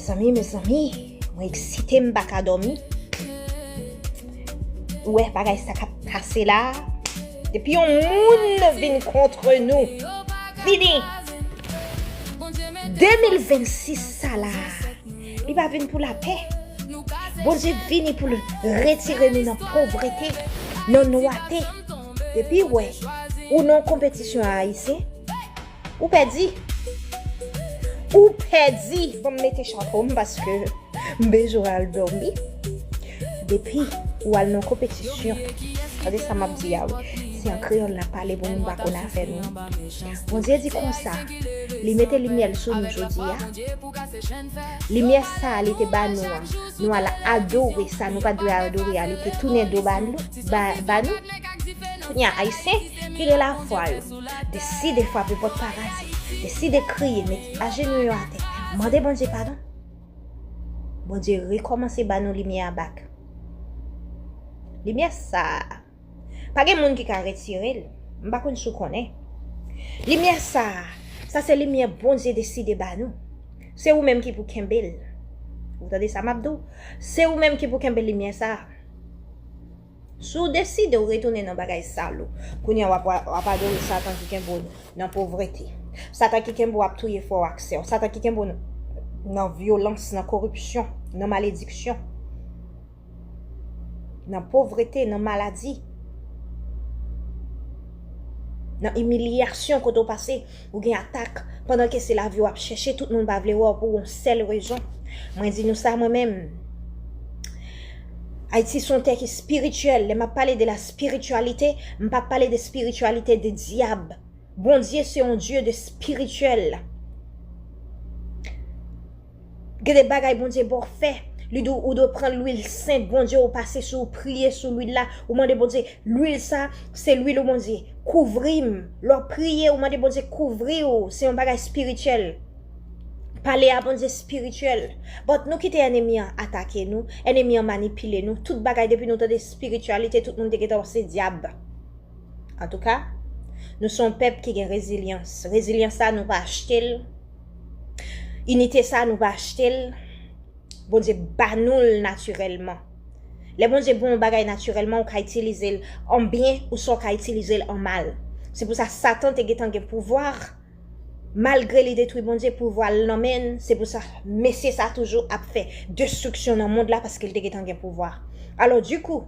Mezanmi mezanmi mwen eksite m paka domi Ou wè bagay sa kap pase la Depi yon moun vin kontre nou Fini 2026 sa la Li pa vin pou lapè Bondye vini pou l retire nou nan povrete Nan nwate Depi wè ou nan konpetisyon a ayisyen Ou pèdi! Ou pèdi! Bon m mete chapo m paske m bezwen al dòmi. Depi ou al nan konpetisyon, tande sa m ap di a wi, se an kreyòl n ap pale pou moun pa konn afè nou. Bondye di konsa, Li mete limyè l sou nou jodi a. Limyè sa a li te ba nou an, nou al adore sa nou pa t dwe adore a, li te tounen do ba nou. Kounye a, Ayisyen ki gen lafwa yo. Deside frape pòt paradi. Deside kriye, met ajenou yo atè. Mande Bondye padon. Bondye rekòmanse ba nou limyè a bak. Limyè sa a, pa gen moun ki ka retire l. M pa konn si w konnen. Limyè sa a, sa se limyè Bondye deside ba nou. Se ou menm ki pou kenbe l. Ou tande sa m ap di w? Se ou menm ki pou kenbe limyè sa a. Si w deside w retounen nan bagay sal ou, kounye a w ap adore Satan ki kenbe w nan povrete, Satan ki kenbe w ap touye frè w ak sè w, Satan ki kenbe w nan vyolans, nan koripsyon, nan malediksyon, nan povrete, nan maladi, nan imilyasyon kote w pase. Ou gen atak pandan ke se lavi wap chèche tout moun pa vle wè w pou yon sèl rezon mwen di nou sa mwen menm Ayiti son tè ki spirityèl lè map pale de la spirityalite m pa pale de spirityalite de dyab Bondye se yon Dye de spirityèl. Gen de bagay Bondye baw fè li diw ou dwe pran lwil sent Bondye ou pase sou ou priye sou lwil la ou mande Bondye lwil sa se lwil ou Bondye kouvrim lè wap priye ou mande Bondye kouvriw se yon bagay spirityèl pale a Bondye spirityèl but nou kite enemi an atake nou enemi an manipile nou tout bagay depi nou tande spirityalite tout moun te gentan wè se dyab antouka nou se yon pèp ki gen rezilyans rezilyans sa nou pa achtel. Inite sa nou pa achte l, Bondye ba nou l natirèlman. Lè Bondye ba w yon bagay natirèlman, ou ka itilize l an byen oswa ou ka itilize l an mal. Se pou sa Satan te gentan gen pouvwa, malgre li detwi Bondye, pouvwa l nan men l, se pou sa mesye sa toujou ap fè destriksyon nan mond la paske l te gentan gen pouvwa. Alòdikou,